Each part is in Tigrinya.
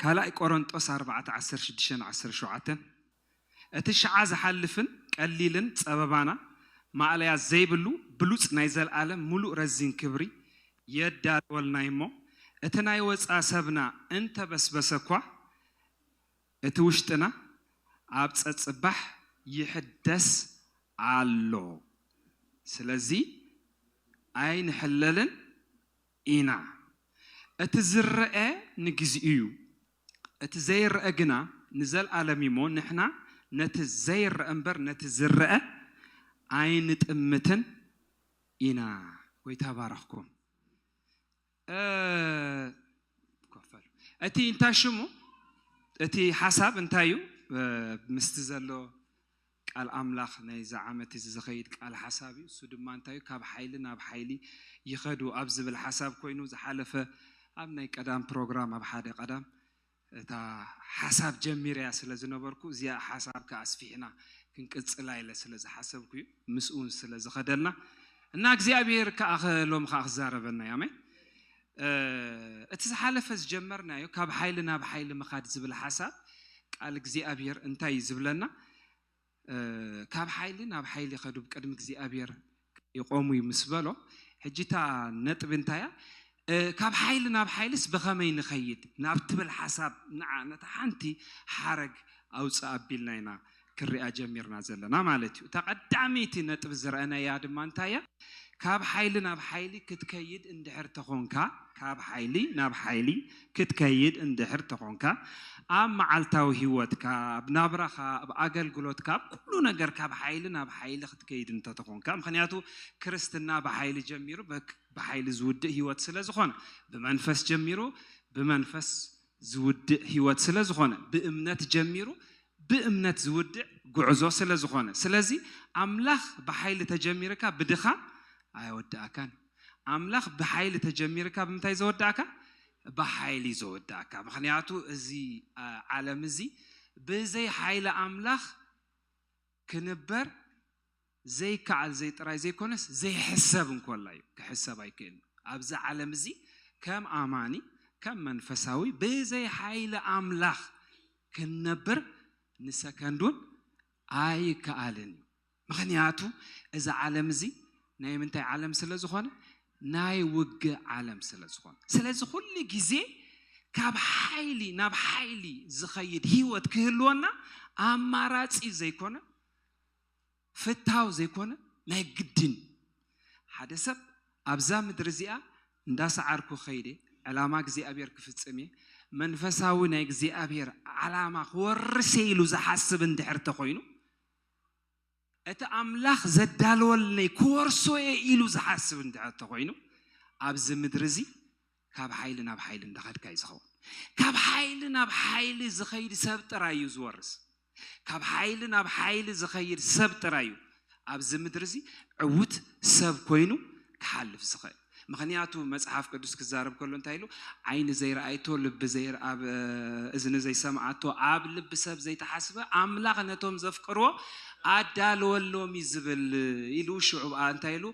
ካልኣይ ቆረንጦስ ኣርባዕተ ዓሰርተ ሽዱሽተን ዓሰርተ ሸውዓተን እቲ ሽዓ ዝሓልፍን ቀሊልን ጸበባና ማእለያ ዘይብሉ ብሉጽ ናይ ዘልኣለም ምሉእ ረዚን ክብሪ የዳልወልና'ዩ እሞ እቲ ናይ ወጻ ሰብና እንተበስበሰ'ኳ እቲ ውሽጥና ኣብ ጸጽባሕ ይሕደስ ኣሎ ስለዚ ኣይንሕለልን ኢና። እቲ ዝረኣ ንግዚኡ'ዩ፣ እቲ ዘይረኣ ግና ንዘልኣለም'ዩ'ሞ ንሕና ነቲ ዘይረኣ'ምበር ነቲ ዝረኣ ኣይንጥምትን ኢና። ጐይታ ይባርኽኩም። እቲ እንታይ ሽሙ እቲ ሓሳብ እንታይ'ዩ ምስቲ ዘሎ ቃል ኣምላኽ ናይዚ ዓመት እዚ ዝኸይድ ቃል ሓሳብ እዩ። እሱ ድማ እንታይ እዩ ካብ ሓይሊ ናብ ሓይሊ ይኸዱ ኣብ ዝብል ሓሳብ ኮይኑ ዝሓለፈ ኣብ ናይ ቀዳም ፕሮግራም ኣብ ሓደ ቀዳም እታ ሓሳብ ጀሚረያ ስለ ዝነበርኩ እዚኣ ሓሳብ ከኣ ኣስፊሕና ክንቅጽላ ኢለ ስለ ዝሓሰብኩ እዩ ምስኡ ስለ ዝኸደልና እና እግዚኣብሄር ከኣ ሎሚ ከኣ ክዛረበና እዩ ኣሜን እቲ ዝሓለፈ ዝጀመርናዮ ካብ ሓይሊ ናብ ሓይሊ ምኻድ ዝብል ሓሳብ ቃል እግዚኣብሔር እንታይ እዩ ዝብለና ካብ ሓይሊ ናብ ሓይሊ ከዱ ብቅድሚ እግዚኣብሔር ይቆሙ እዩ ምስ በሎ ሕጂ እታ ነጥቢ እንታይ እያ ካብ ሓይሊ ናብ ሓይልስ ብኸመይ ንኸይድ ናብ ትብል ሓሳብ ንዓ ነታ ሓንቲ ሓረግ ኣውፅእ ኣቢልና ኢና ክርኣ ጀሚርና ዘለና ማለት እዩ። እታ ቀዳመይቲ ነጥቢ ዝረእነያ ድማ እንታይ እያ? ካብ ሓይሊ ናብ ሓይሊ ክትከይድ እንድሕር ተኾንካ፣ ካብ ሓይሊ ናብ ሓይሊ ክትከይድ እንድሕር ተኾንካ፣ ኣብ መዓልታዊ ህይወትካ፣ ኣብ ናብራኻ፣ ኣብ ኣገልግሎትካ፣ ኣብ ኩሉ ነገር ካብ ሓይሊ ናብ ሓይሊ ክትከይድ እንተተኾንካ፣ ምኽንያቱ ክርስትና ብሓይሊ ጀሚሩ ብሓይሊ ዝውድእ ህይወት ስለዝኾነ፣ ብመንፈስ ጀሚሩ ብመንፈስ ዝውድእ ሕይወት ስለ ዝኾነ ብእምነት ጀሚሩ ብእምነት ዝውድእ ጉዕዞ ስለ ዝኾነ ስለዚ ኣምላኽ ብሓይሊ ተጀሚርካ ብድኻም ኣየወድኣካን እዩ ኣምላኽ ብሓይሊ ተጀሚርካ ብምንታይ ዘወድኣካ ብሓይሊ እዩ ዘወድኣካ ምክንያቱ እዚ ዓለም እዚ ብዘይ ሓይሊ ኣምላኽ ክንበር ዘይከኣል ዘይ ጥራይ ዘይኮነስ ዘይሕሰብ እንኮላይ እዩ ክሕሰብ ኣይክእልን ኣብዚ ዓለም እዚ ከም ኣማኒ ከም መንፈሳዊ ብዘይ ሓይሊ ኣምላኽ ክንነብር ንሰከንድ ውን ኣይከኣልን እዩ ምኽንያቱ እዚ ዓለም እዚ ናይ ምንታይ ዓለም ስለ ዝኾነ ናይ ውግእ ዓለም ስለ ዝኾነ ስለዚ ኩሉ ግዜ ካብ ሓይሊ ናብ ሓይሊ ዝኸይድ ሂወት ክህልወና ኣማራጺ ዘይኮነ ፍትሃዊ ዘይኮነ ናይ ግድን እዩ። ሓደ ሰብ ኣብዛ ምድሪ እዚኣ እንዳ ሰዓርኩ ከይደ ዕላማ እግዚኣብሔር ክፍጽም እየ መንፈሳዊ ናይ እግዚኣብሔር ዓላማ ክወርስ እየ ኢሉ ዝሓስብ እንድሕር ተኾይኑ እቲ ኣምላኽ ዘዳለወልነይ ክወርሶ እየ ኢሉ ዝሓስብ እንድሕር ተኾይኑ ኣብዚ ምድሪ እዚ ካብ ሓይሊ ናብ ሓይሊ እንዳኸድካ እዩ ዝኸውን ካብ ሓይሊ ናብ ሓይሊ ዝኸይድ ሰብ ጥራይ እዩ ዝወርስ ካብ ሓይሊ ናብ ሓይሊ ዝኸይድ ሰብ ጥራይ እዩ ኣብዚ ምድሪ እዚ ዕውት ሰብ ኮይኑ ክሓልፍ ዝኽእል ምክንያቱ መጽሓፍ ቅዱስ ክዛረብ ከሎ እንታይ ኢሉ ዓይኒ ዘይረኣይቶ ልቢ ዘይርኣብ እዝኒ ዘይሰምዓቶ ኣብ ልቢ ሰብ ዘይተሓስበ ኣምላኽ ነቶም ዘፍቅርዎ ኣዳለወሎም እዩ ዝብል ኢሉ ሽዑ ብኣ እንታይ ኢሉ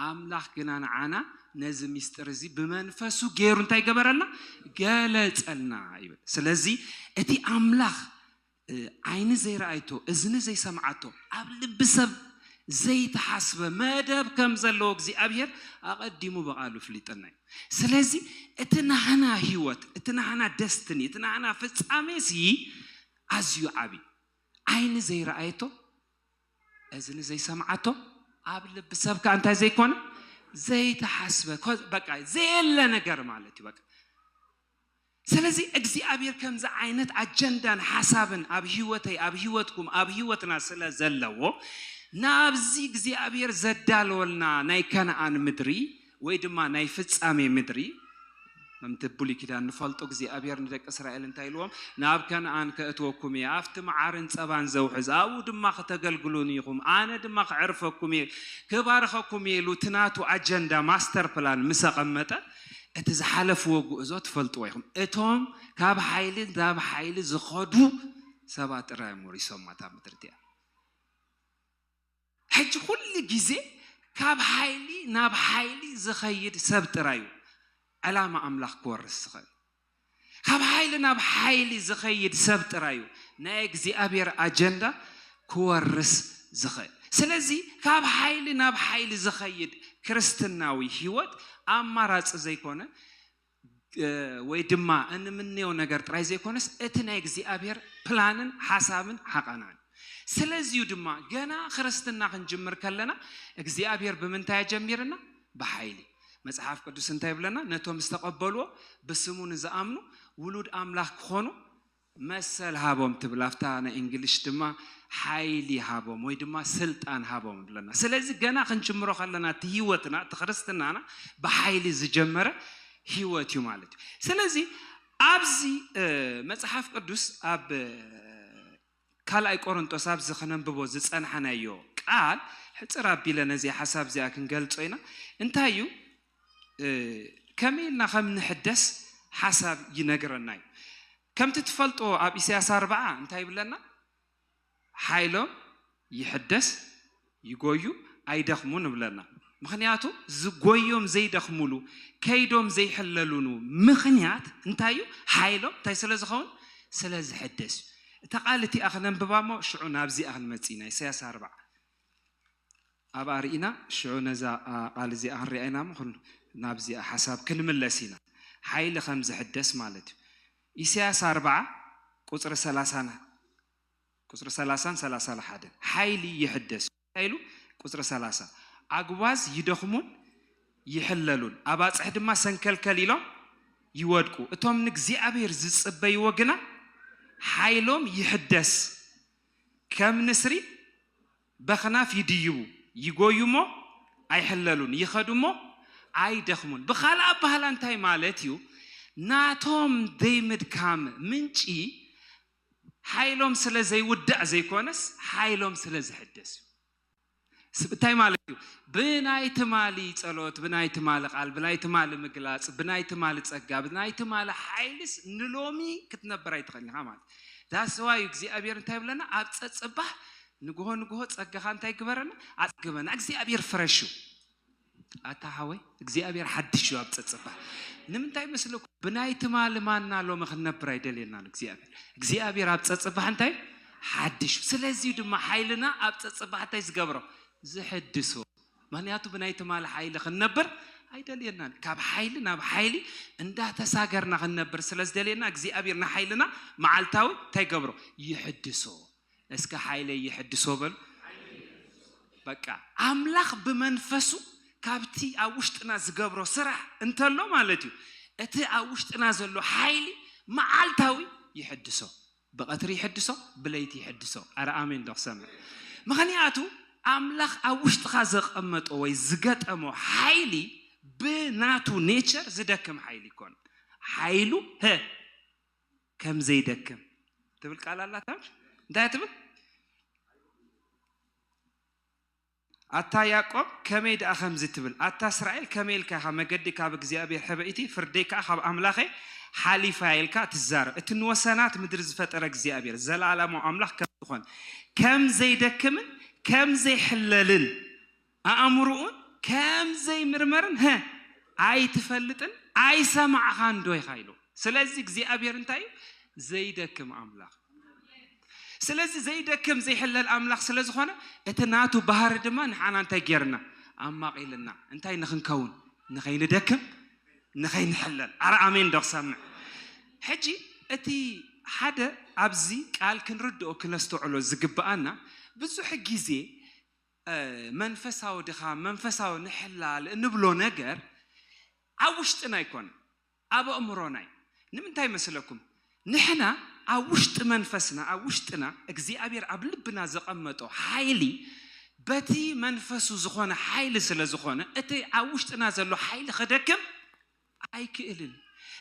ኣምላኽ ግና ንዓና ነዚ ምስጢር እዚ ብመንፈሱ ገይሩ እንታይ ገበረልና ገለጸልና ይብል ስለዚ እቲ ኣምላኽ ዓይኒ ዘይረኣይቶ እዝኒ ዘይሰምዓቶ ኣብ ልቢ ሰብ ዘይተሓስበ መደብ ከም ዘለዎ እግዚኣብሄር ኣቐዲሙ ብቓሉ ፍሊጠና እዩ ስለዚ እቲ ናህና ህይወት እቲ ናህና ደስትኒ እቲ ናህና ፍጻሜ ሲ ኣዝዩ ዓብዩ ዓይኒ ዘይረኣየቶ እዝኒ ዘይሰምዓቶ ኣብ ልቢ ሰብ ከ እንታይ ዘይኮነ ዘይተሓስበ በቃ ዘየለ ነገር ማለት እዩ በቃ ስለዚ እግዚኣብሔር ከምዚ ዓይነት ኣጀንዳን ሓሳብን ኣብ ህይወተይ ኣብ ህይወትኩም ኣብ ህይወትና ስለ ዘለዎ ናብዚ እግዚኣብሔር ዘዳለወልና ናይ ከነኣን ምድሪ ወይ ድማ ናይ ፍጻሜ ምድሪ፣ ከምቲ ኣብ ብሉይ ኪዳን ንፈልጦ እግዚኣብሄር ንደቂ እስራኤል እንታይ ኢልዎም? ናብ ከነኣን ከእትወኩም እየ፣ ኣብቲ መዓርን ጸባን ዘውሕዝ፣ ኣብኡ ድማ ክተገልግሉኒ ኢኹም፣ ኣነ ድማ ከዕርፈኩም እየ፣ ክባርኸኩም እየ ኢሉ እቲ ናቱ ኣጀንዳ፣ ማስተር ፕላን፣ ምስ ኣቐመጠ፣ እቲ ዝሓለፍዎ ጉዕዞ ትፈልጥዎ ኢኹም። እቶም ካብ ሓይሊ ናብ ሓይሊ ዝኸዱ ሰባት ጥራይ እዮም ወሪሶማ እታ ምድሪ እቲኣ። ሕጂ ኩሉ ግዜ ካብ ሓይሊ ናብ ሓይሊ ዝኸይድ ሰብ ጥራይ እዩ ዕላማ ኣምላኽ ክወርስ ዝኽእል። ካብ ሓይሊ ናብ ሓይሊ ዝኸይድ ሰብ ጥራይ እዩ ናይ እግዚኣብሔር ኣጀንዳ ክወርስ ዝኽእል። ስለዚ ካብ ሓይሊ ናብ ሓይሊ ዝኸይድ ክርስትናዊ ሕይወት ኣማራጺ ዘይኮነ፣ ወይ ድማ እንምነዮ ነገር ጥራይ ዘይኮነስ እቲ ናይ እግዚኣብሔር ፕላንን ሓሳብን ሓቐናን ስለዚዩ ድማ ገና ክርስትና ክንጅምር ከለና እግዚኣብሔር ብምንታይ ኣጀሚርና ብሓይሊ መጽሓፍ ቅዱስ እንታይ ይብለና ነቶም ዝተቐበልዎ ብስሙ ንዝኣምኑ ውሉድ ኣምላኽ ክኾኑ መሰል ሃቦም ትብል ኣብታ ናይ እንግሊሽ ድማ ሓይሊ ሃቦም ወይ ድማ ስልጣን ሃቦም ንብል ኣለና ስለዚ ገና ክንጅምሮ ከለና እቲ ሂወትና እቲ ክርስትናና ብሓይሊ ዝጀመረ ሂወት እዩ ማለት እዩ ስለዚ ኣብዚ መጽሓፍ ቅዱስ ኣብ ካልኣይ ቆሮንጦስ ኣብዚ ክነንብቦ ዝጸናሕናዮ ቃል ሕጽር ኣቢለ ነዚኣ ሓሳብ እዚኣ ክንገልጾ ኢና እንታይ እዩ ከመይ ኢልና ከም ንሕደስ ሓሳብ ይነግረና እዩ። ከምቲ ትፈልጦ ኣብ ኢሳያስ ኣርብዓ እንታይ ይብለና? ሓይሎም ይሕደስ ይጎዩ ኣይደኽሙን እብለና። ምክንያቱ ዝጎዮም ዘይደኽሙሉ ከይዶም ዘይሕለሉኑ ምክንያት እንታይ እዩ? ሓይሎም እንታይ ስለ ዝኸውን? ስለ ዝሕደስ እዩ። እታ ቃል እቲኣ ክነንብባ እሞ ሽዑ ናብዚኣ ክንመጽእ ኢና። ኢሳያስ ኣርብዓ ኣብኣ ርኢና ሽዑ ነዛ ቓል እዚኣ ክንሪኣ ኢና እሞ ኩሉ ናብዚኣ ሓሳብ ክንምለስ ኢና ሓይሊ ከም ዝሕደስ ማለት እዩ ኢሳያስ ኣርብዓ ቁጽሪ ሰላሳን ቁጽሪ ሰላሳን ሰላሳን ሓደን ሓይሊ ይሕደስ እንታይ ኢሉ ቁጽሪ ሰላሳ ኣጉባዝ ይደኽሙን ይሕለሉን ኣባጽሕ ድማ ሰንከልከል ኢሎም ይወድቁ እቶም ንእግዚኣብሔር ዝጽበይዎ ግና ሓይሎም ይሕደስ ከም ንስሪ በኽናፍ ይድይቡ፣ ይጎዩ እሞ ኣይሕለሉን፣ ይኸዱ እሞ ኣይደኽሙን። ብኻልእ ኣባህላ እንታይ ማለት እዩ? ናቶም ዘይምድካም ምንጪ ሓይሎም ስለ ዘይውዳእ ዘይኮነስ ሓይሎም ስለ ዝሕደስ እዩ። እንታይ ማለት እዩ? ብናይ ትማሊ ጸሎት፣ ብናይ ትማሊ ቃል፣ ብናይ ትማሊ ምግላጽ፣ ብናይ ትማሊ ጸጋ፣ ብናይ ትማሊ ሓይልስ ንሎሚ ክትነብር ኣይትኽእልን ኢኻ ማለት እዩ። ዳስ ዋይ እግዚኣብሔር እንታይ ይብለና? ኣብ ጸጽባህ ንግሆ ንግሆ ጸጋኻ እንታይ ግበረና ኣጽግበና እግዚኣብሔር ፍረሽ እዩ ኣታ ሓወይ እግዚኣብሔር ሓድሽ እዩ ኣብ ጸጽባ ንምንታይ መስለኩ ብናይ ትማሊ ማና ሎሚ ክንነብር ኣይደልየናን እግዚኣብሔር እግዚኣብሔር ኣብ ጸጽባሕ እንታይ ሓድሽ እዩ ስለዚ ድማ ሓይልና ኣብ ጸጽባሕ እንታይ ዝገብሮ ዝሕድሶ ምክንያቱ ብናይ ትማሊ ሓይሊ ክንነብር ኣይደልየናን ካብ ሓይሊ ናብ ሓይሊ እንዳተሳገርና ክንነብር ስለ ዝደልየና እግዚኣብሔር ንሓይልና መዓልታዊ እንታይ ገብሮ ይሕድሶ እስከ ሓይለይ የሕድሶ በሉ። በቃ ኣምላኽ ብመንፈሱ ካብቲ ኣብ ውሽጥና ዝገብሮ ስራሕ እንተሎ ማለት እዩ እቲ ኣብ ውሽጥና ዘሎ ሓይሊ መዓልታዊ ይሕድሶ ብቐትሪ ይሕድሶ ብለይቲ ይሕድሶ ኣረ ኣሜን ዶ ክሰምዕ ምክንያቱ ኣምላኽ ኣብ ውሽጥኻ ዘቐመጦ ወይ ዝገጠሞ ሓይሊ ብናቱ ኔቸር ዝደክም ሓይሊ ይኮን ሓይሉ ከም ዘይደክም ትብል ቃል ኣላታ እንታይ ትብል ኣታ ያዕቆብ ከመይ ደኣ ከምዚ ትብል ኣታ እስራኤል ከመይ ኢልካ ኢኻ መገዲ ካብ እግዚኣብሔር ሕበይቲ ፍርደይ ከዓ ካብ ኣምላኸ ሓሊፋ ኢልካ ትዛረብ እቲ ንወሰናት ምድሪ ዝፈጠረ እግዚኣብሔር ዘለኣለማዊ ኣምላኽ ከም ዝኾን ከም ዘይደክምን ከም ዘይሕለልን ኣእምርኡን ከም ዘይምርመርን ሀ ኣይትፈልጥን ኣይሰማዕኻንዶ ኢኻ ኢሉ ስለዚ እግዚኣብሔር እንታይ እዩ ዘይደክም ኣምላኽ ስለዚ ዘይደክም ዘይሕለል ኣምላኽ ስለ ዝኾነ እቲ ናቱ ባህሪ ድማ ንሓና እንታይ ጌርና ኣማቒልና እንታይ ንኽንከውን ንኸይንደክም ንኸይንሕለል ኣረ ኣሜን ዶ ክሰምዕ ሕጂ እቲ ሓደ ኣብዚ ቃል ክንርድኦ ክነስተውዕሎ ዝግብኣና ብዙሕ ግዜ መንፈሳዊ ድኻም፣ መንፈሳዊ ንሕላል እንብሎ ነገር ኣብ ውሽጥና ኣይኮነን፣ ኣብ ኣእምሮና እዩ። ንምንታይ መስለኩም? ንሕና ኣብ ውሽጢ መንፈስና፣ ኣብ ውሽጥና እግዚኣብሔር ኣብ ልብና ዘቐመጦ ሓይሊ በቲ መንፈሱ ዝኾነ ሓይሊ ስለ ዝኾነ እቲ ኣብ ውሽጥና ዘሎ ሓይሊ ክደክም ኣይክእልን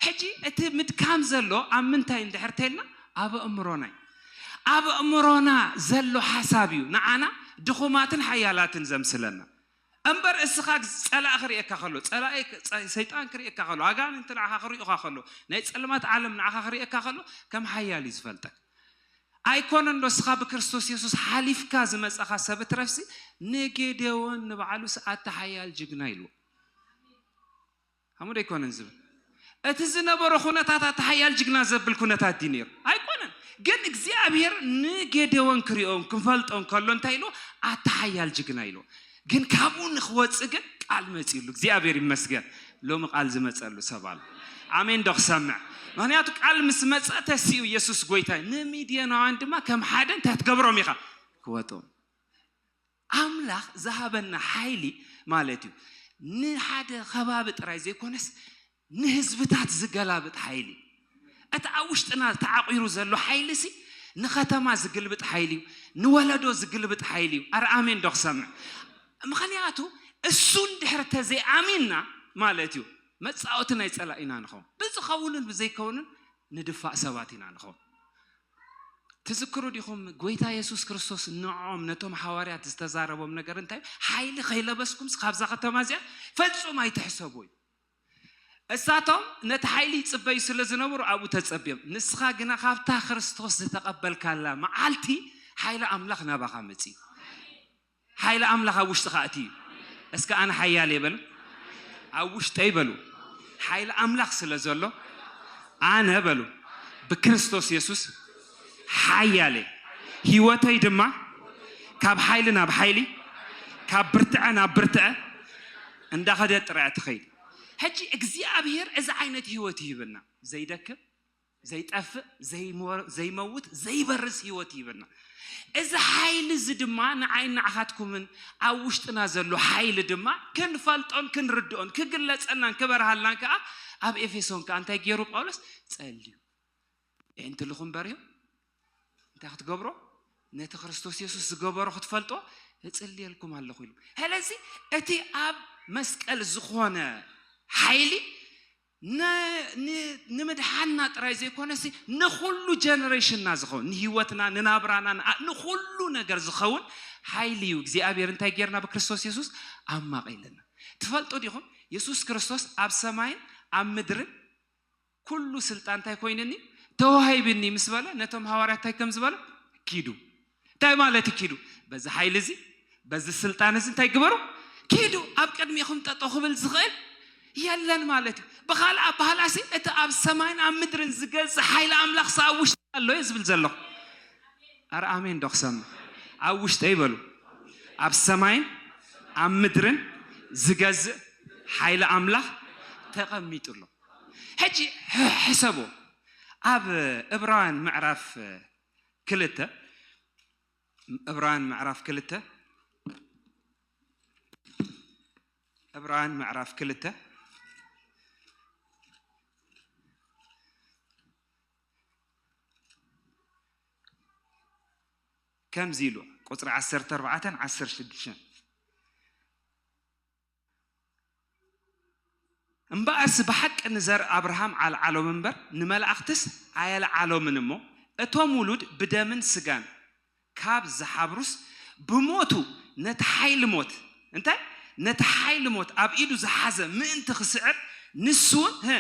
ሕጂ እቲ ምድካም ዘሎ ኣብ ምንታይ እንድሕር ተልና ኣብ ኣእምሮና እዩ ኣብ ኣእምሮና ዘሎ ሓሳብ እዩ ንዓና ድኹማትን ሓያላትን ዘምስለና እምበር እስኻ ጸላእ ክርእየካ ከሎ ጸላኢ ሰይጣን ክርእየካ ከሎ ኣጋንንቲ ንዓኻ ክርእዩኻ ከሎ ናይ ጸልማት ዓለም ንዓኻ ክርእየካ ከሎ ከም ሓያል እዩ ዝፈልጠካ ኣይኮነን ዶ እስኻ ብክርስቶስ የሱስ ሓሊፍካ ዝመጻኻ ሰብ እትረፍሲ ንጌዴዎን ንባዕሉስ ኣታ ሓያል ጅግና ኢልዎ ከምኡ ዶ ኣይኮነን ዝብል እቲ ዝነበሮ ኩነታት ኣቲ ሓያል ጅግና ዘብል ኩነታት ድዩ ነይሩ ኣይኮነን ግን እግዚኣብሔር ንጌዴዎን ክሪኦን ክፈልጦን ከሎ እንታይ ኢሉ ኣቲ ሓያል ጅግና ኢሉ ግን ካብኡ ንክወፅእ ግን ቃል መፅሉ እግዚኣብሔር ይመስገን ሎሚ ቃል ዝመፀሉ ሰብ ኣሎ ኣሜን ዶ ክሰምዕ ምክንያቱ ቃል ምስ መፀ ተሲኡ ኢየሱስ ጎይታ ንሚድዮናውያን ድማ ከም ሓደ እንታይ ትገብሮም ኢኻ ክወጦም ኣምላኽ ዝሃበና ሓይሊ ማለት እዩ ንሓደ ከባቢ ጥራይ ዘይኮነስ ንህዝብታት ዝገላብጥ ሓይሊ እቲ ኣብ ውሽጥና ተዓቂሩ ዘሎ ሓይሊ ሲ ንከተማ ዝግልብጥ ሓይሊ እዩ ንወለዶ ዝግልብጥ ሓይሊ እዩ ኣረ ኣሜን ዶ ክሰምዕ ምክንያቱ እሱ እንድሕር ተዘይኣሚንና ማለት እዩ መፃወቲ ናይ ፀላኢና ንኸውን ብዝኸውንን ብዘይከውንን ንድፋእ ሰባት ኢና ንኸውን ትዝክሩ ዲኹም ጎይታ የሱስ ክርስቶስ ንዕኦም ነቶም ሓዋርያት ዝተዛረቦም ነገር እንታይ እዩ? ሓይሊ ከይለበስኩምስ ካብዛ ከተማ እዚኣ ፈጹም ኣይትሕሰቡ እዩ። እሳቶም ነቲ ሓይሊ ይጽበዩ ስለ ዝነበሩ ኣብኡ ተጸብዮም ንስኻ ግና ካብታ ክርስቶስ ዝተቐበልካላ መዓልቲ ሓይሊ ኣምላኽ ናባኻ መጺኡ ሓይሊ ኣምላኽ ኣብ ውሽጥኻ ኣትዩ እዩ። እስከ ኣነ ሓያል እየ በሉ። ኣብ ውሽጠይ በሉ ሓይሊ ኣምላኽ ስለ ዘሎ ኣነ በሉ ብክርስቶስ የሱስ ሓያል እየ። ህይወተይ ድማ ካብ ሓይሊ ናብ ሓይሊ ካብ ብርትዐ ናብ ብርትዐ እንዳኸደት ጥራያ ትኸይድ። ሕጂ እግዚኣብሄር እዚ ዓይነት ህይወት ይህበና ዘይደክም። ዘይጠፍእ ዘይመውት ዘይበርስ ህይወት ይህበና እዚ ሓይሊ እዚ ድማ ንዓይ ንዓኻትኩምን ኣብ ውሽጥና ዘሎ ሓይሊ ድማ ክንፈልጦን ክንርድኦን ክግለጸልናን ክበርሃልናን ከዓ ኣብ ኤፌሶን ከዓ እንታይ ገይሩ ጳውሎስ ጸልዩ የእንትልኹም በርዮ እንታይ ክትገብሮ ነቲ ክርስቶስ የሱስ ዝገበሮ ክትፈልጦ እጽልየልኩም ኣለኹ ኢሉ ስለዚ እቲ ኣብ መስቀል ዝኾነ ሓይሊ ንምድሓንና ጥራይ ዘይኮነሲ ንኹሉ ጀነሬሽንና ዝኸውን ንህይወትና ንናብራና ንኹሉ ነገር ዝኸውን ሓይሊ እዩ እግዚኣብሔር እንታይ ጌርና ብክርስቶስ የሱስ ኣማቒልና ትፈልጡ ዲኹም የሱስ ክርስቶስ ኣብ ሰማይን ኣብ ምድርን ኩሉ ስልጣን እንታይ ኮይኑኒ ተዋሂብኒ ምስ በለ ነቶም ሃዋርያት እንታይ ከም ዝበለ ኪዱ እንታይ ማለት እዩ ኪዱ በዚ ሓይሊ እዚ በዚ ስልጣን እዚ እንታይ ግበሩ ኪዱ ኣብ ቅድሚኹም ጠጦ ክብል ዝኽእል የለን ማለት እዩ ብካልእ ኣባህላሲ እቲ ኣብ ሰማይን ኣብ ምድርን ዝገዝእ ሓይሊ ኣምላኽ ሲ ኣብ ውሽጢ ኣሎ እየ ዝብል ዘለኹ ኣረ ኣሜን ዶ ክሰምዕ ኣብ ውሽጠይ በሉ ኣብ ሰማይን ኣብ ምድርን ዝገዝእ ሓይሊ ኣምላኽ ተቐሚጡ ኣሎ ሕጂ ሕሰቡ ኣብ እብራውያን ምዕራፍ ክልተ እብራውያን ምዕራፍ ክልተ እብራውያን ምዕራፍ ክልተ ከምዚ ኢሉ ቁፅሪ ዓሰርተ ኣርባዕተን ዓሰርተ ሽዱሽተን እምበኣርሲ ብሓቂ ንዘር ኣብርሃም ዓልዓሎም እምበር ንመላእኽትስ ኣየልዓሎምን እሞ እቶም ውሉድ ብደምን ስጋን ካብ ዝሓብሩስ ብሞቱ ነቲ ሓይሊ ሞት እንታይ ነቲ ሓይሊ ሞት ኣብ ኢዱ ዝሓዘ ምእንቲ ክስዕር ንሱውን ህ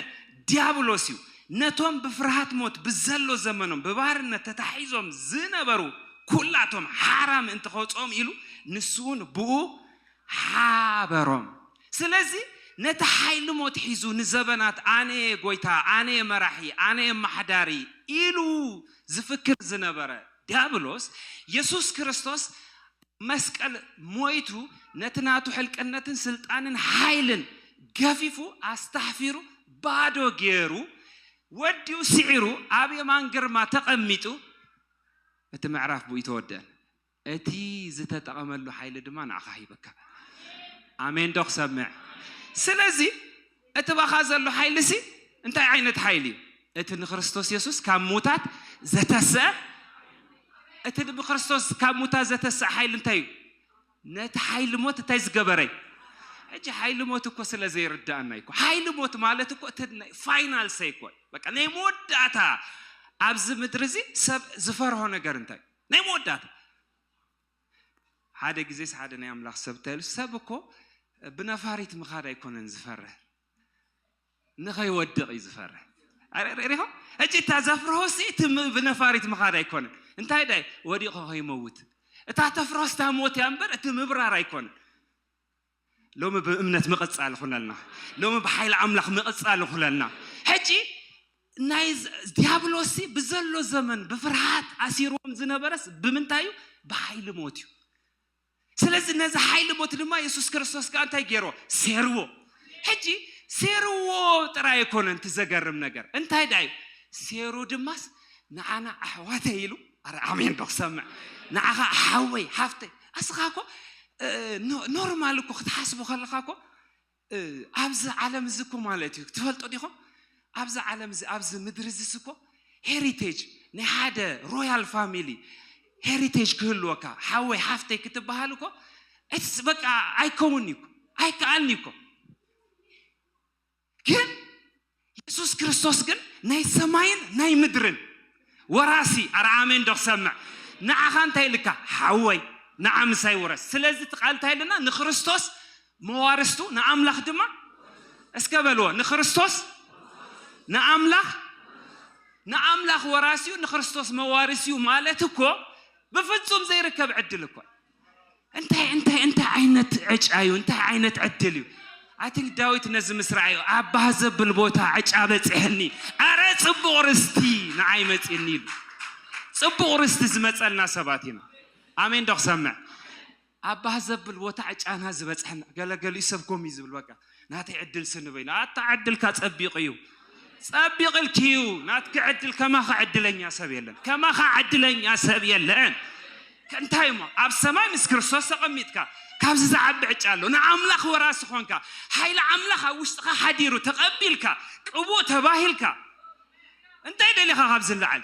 ዲያብሎስ እዩ ነቶም ብፍርሃት ሞት ብዘሎ ዘመኖም ብባርነት ተታሒዞም ዝነበሩ ኩላቶም ሓራ ምእንቲ ከውጽኦም ኢሉ ንሱውን ብኡ ሓበሮም። ስለዚ ነቲ ሓይሊ ሞት ሒዙ ንዘበናት ኣነ'የ ጎይታ፣ ኣነ'የ መራሒ፣ ኣነ'የ ኣማሓዳሪ ኢሉ ዝፍክር ዝነበረ ድያብሎስ፣ የሱስ ክርስቶስ ኣብ መስቀል ሞይቱ ነቲ ናቱ ሕልቅነትን ስልጣንን ሓይልን ገፊፉ ኣስታሕፊሩ ባዶ ጌሩ ወዲኡ ስዒሩ ኣብ የማን ግርማ ተቐሚጡ እቲ ምዕራፍ ብኡ ተወድአ። እቲ ዝተጠቐመሉ ሓይሊ ድማ ንዓኻ ሂበካ። ኣሜንዶ ክሰምዕ? ስለዚ እቲ ባኻ ዘሎ ሓይሊሲ እንታይ ዓይነት ሓይሊ እዩ? እቲ ንክርስቶስ የሱስ ካብ ምዉታት ዘተስእ እቲ ብክርስቶስ ካብ ምዉታት ዘተስእ ሓይሊ እንታይ እዩ? ነቲ ሓይሊ ሞት እንታይ ዝገበረ እዩ? ሕጂ ሓይሊ ሞት እኮ ስለ ዘይርድኣና እዩ እኮ ሓይሊ ሞት ማለት እኮ እቲ ናይ ፋይናል ሰይ እኮ እዩ በቃ ናይ መወዳእታ ኣብዚ ምድሪ እዚ ሰብ ዝፈርሆ ነገር እንታይ እዩ? ናይ መወዳእታ ሓደ ግዜስ ሓደ ናይ ኣምላኽ ሰብ እንታይ ኢሉ ሰብ እኮ ብነፋሪት ምኻድ ኣይኮነን ዝፈርህ ንኸይወድቕ እዩ ዝፈርህ ሪኹም እጂ እታ ዘፍርሆሲ እቲ ብነፋሪት ምኻድ ኣይኮነን እንታይ ዳይ ወዲቑ ከይመውት እታ ተፍርሆስ እታ ሞት እያ እምበር እቲ ምብራር ኣይኮነን ሎሚ ብእምነት ምቕጻል ይኹነልና። ሎሚ ብሓይሊ ኣምላኽ ምቕጻል ይኹነልና። ሕጂ ናይ ዲያብሎስ ብዘሎ ዘመን ብፍርሃት ኣሲርዎም ዝነበረስ ብምንታይ እዩ? ብሓይሊ ሞት እዩ። ስለዚ ነዚ ሓይሊ ሞት ድማ የሱስ ክርስቶስ ከዓ እንታይ ገይሮ? ሴርዎ። ሕጂ ሴርዎ ጥራይ ኣይኮነን እቲ ዘገርም ነገር እንታይ ደኣ እዩ? ሴሩ ድማስ ንዓና ኣሕዋተይ ኢሉ ኣረ ኣሜን ዶ ክሰምዕ ንዓኻ ሓወይ ሓፍተይ ኣስኻ እኮ ኖርማል እኮ ክትሓስቡ ከለኻ እኮ ኣብዚ ዓለም እዚ እኮ ማለት እዩ ትፈልጡ ዲኹም ኣብዚ ዓለም እዚ ኣብዚ ምድሪ እዚስ እኮ ሄሪቴጅ ናይ ሓደ ሮያል ፋሚሊ ሄሪቴጅ ክህልወካ ሓወይ ሓፍተይ ክትበሃል እኮ በቃ ኣይከውን እዩ ኣይከኣልን እዩ እኮ ግን የሱስ ክርስቶስ ግን ናይ ሰማይን ናይ ምድርን ወራሲ ኣረ ኣሜን ዶ ክሰምዕ ንዓኻ እንታይ ኢልካ ሓወይ ንዓ ምሳይ ውረስ ስለዚ እቲ ቃል እንታይ ኣለና ንክርስቶስ መዋርስቱ ንኣምላኽ ድማ እስከ በልዎ ንክርስቶስ ንኣምላኽ ንኣምላኽ ወራሲኡ ንክርስቶስ መዋርሲኡ ማለት እኮ ብፍጹም ዘይርከብ ዕድል እኮ እንታይ እንታይ እንታይ ዓይነት ዕጫ እዩ እንታይ ዓይነት ዕድል እዩ ኣቲንክ ዳዊት ነዚ ምስ ረኣዮ ኣባ ዘብል ቦታ ዕጫ በፂሐኒ ኣረ ፅቡቕ ርስቲ ንዓይ መፅኒ ኢሉ ፅቡቕ ርስቲ ዝመፀልና ሰባት ኢና ኣሜን ዶ ክሰምዕ ኣባ ዘብል ቦታ ዕጫና ዝበፅሐና ገለገሊኡ ሰብኮም እዩ ዝብል በቃ ናተይ ዕድል ስኒ በይኑ ኣታ ዕድልካ ጸቢቕ እዩ ጸቢቕ ኢልኪዩ ናትኪ ዕድል ከማኻ ዕድለኛ ሰብ የለን ከማኻ ዕድለኛ ሰብ የለን እንታይ እሞ ኣብ ሰማይ ምስ ክርስቶስ ተቐሚጥካ ካብዚ ዝዓቢ ዕጫ ኣሎ ንኣምላኽ ወራሲ ኾንካ ሓይሊ ኣምላኽ ኣብ ውሽጥኻ ሓዲሩ ተቐቢልካ ቅቡእ ተባሂልካ እንታይ ደሊኻ ካብ ዝለዓል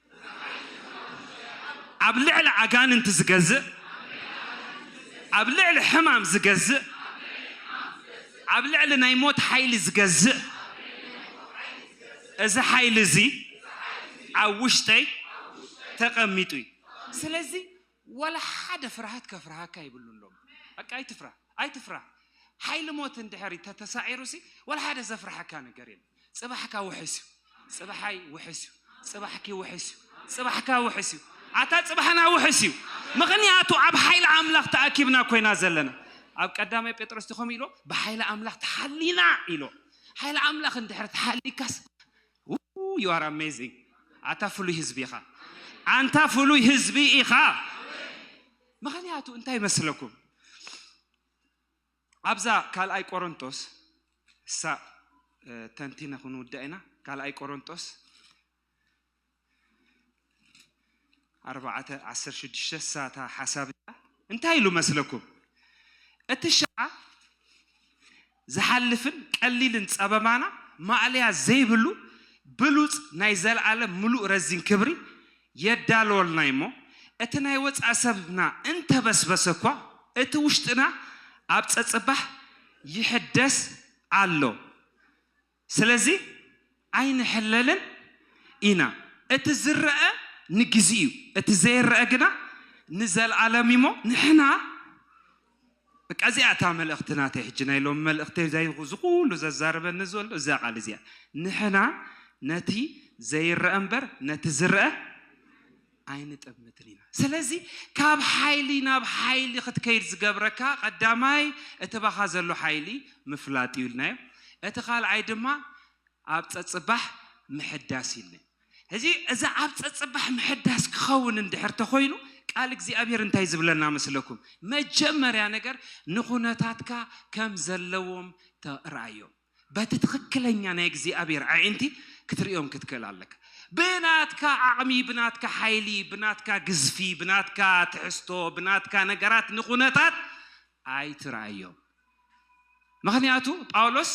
ኣብ ልዕሊ ኣጋንንቲ ዝገዝእ ኣብ ልዕሊ ሕማም ዝገዝእ ኣብ ልዕሊ ናይ ሞት ሓይሊ ዝገዝእ እዚ ሓይሊ እዚ ኣብ ውሽጠይ ተቐሚጡ እዩ ስለዚ ዋላ ሓደ ፍርሃት ከፍርሃካ ይብሉሎም በቃ ኣይትፍራ ኣይትፍራ ሓይሊ ሞት እንድሕር ተተሳዒሩ ሲ ዋላ ሓደ ዘፍርሓካ ነገር የለ ፅባሕካ ውሕስ እዩ ፅባሓይ ውሕስ እዩ ፅባሕኪ ውሕስ እዩ ፅባሕካ ውሕስ እዩ ኣታ ፅባሕና ውሕስ እዩ ምክንያቱ ኣብ ሓይሊ ኣምላኽ ተኣኪብና ኮይና ዘለና ኣብ ቀዳማይ ጴጥሮስ ከምኡ ኢሎ ብሓይሊ ኣምላኽ ተሓሊና ኢሎ ሓይሊ ኣምላኽ እንድሕር ተሓሊካስ Woo you are amazing ኣታ ፍሉይ ህዝቢ ኢኻ። ኣንታ ፍሉይ ህዝቢ ኢኻ ምኽንያቱ እንታይ መስለኩም ኣብዛ ካልኣይ ቆሮንጦስ እሳ ተንቲነ ክንውዳ ኢና ካልኣይ ቆሮንጦስ ኣርባዕተ ዓሰርተ ሽዱሽተ ሳታ ሓሳብ እዚኣ እንታይ ኢሉ መስለኩም? እቲ ሽዓ ዝሓልፍን ቀሊልን ጸበባና ማእለያ ዘይብሉ ብሉጽ ናይ ዘልኣለም ምሉእ ረዚን ክብሪ የዳልወልና እዩ'ሞ እቲ ናይ ወጻኢ ሰብና እንተበስበሰ እኳ እቲ ውሽጥና ኣብ ጸጽባሕ ይሕደስ ኣሎ። ስለዚ ኣይንሕለልን ኢና። እቲ ዝረኣ ንግዜ'ዩ፣ እቲ ዘይረኣ ግና ንዘልኣለም'ዩ'ሞ ንሕና በቃ እዚኣ እታ መልእኽቲ ናተይ ሕጂ ናይ ሎሚ መልእኽተይ እዚ ኩሉ ዘዛርበኒ ዘሎ እዛ ቃል እዚኣ ንሕና ነቲ ዘይረኣ'ምበር ነቲ ዝረኣ ኣይንጠምትን ኢና። ስለዚ ካብ ሓይሊ ናብ ሓይሊ ክትከይድ ዝገብረካ ቀዳማይ እቲ ባኻ ዘሎ ሓይሊ ምፍላጥ እዩ ኢልናዮ። እቲ ካልኣይ ድማ ኣብ ጸጽባሕ ምሕዳስ እዩ ኢልና። ሕዚ እዚ ኣብ ጸጽባሕ ምሕዳስ ክኸውን እንድሕር ተኾይኑ ቃል እግዚኣብሔር እንታይ ዝብለና መስለኩም? መጀመርያ ነገር ንኩነታትካ ከም ዘለዎም ርኣዮም። በቲ ትኽክለኛ ናይ እግዚኣብሔር ኣዒንቲ ክትርእዮም ክትክእል ኣለካ ብናትካ ዓቕሚ ብናትካ ሓይሊ ብናትካ ግዝፊ ብናትካ ትሕዝቶ ብናትካ ነገራት ንኹነታት ኣይትርኣዮም ምክንያቱ ጳውሎስ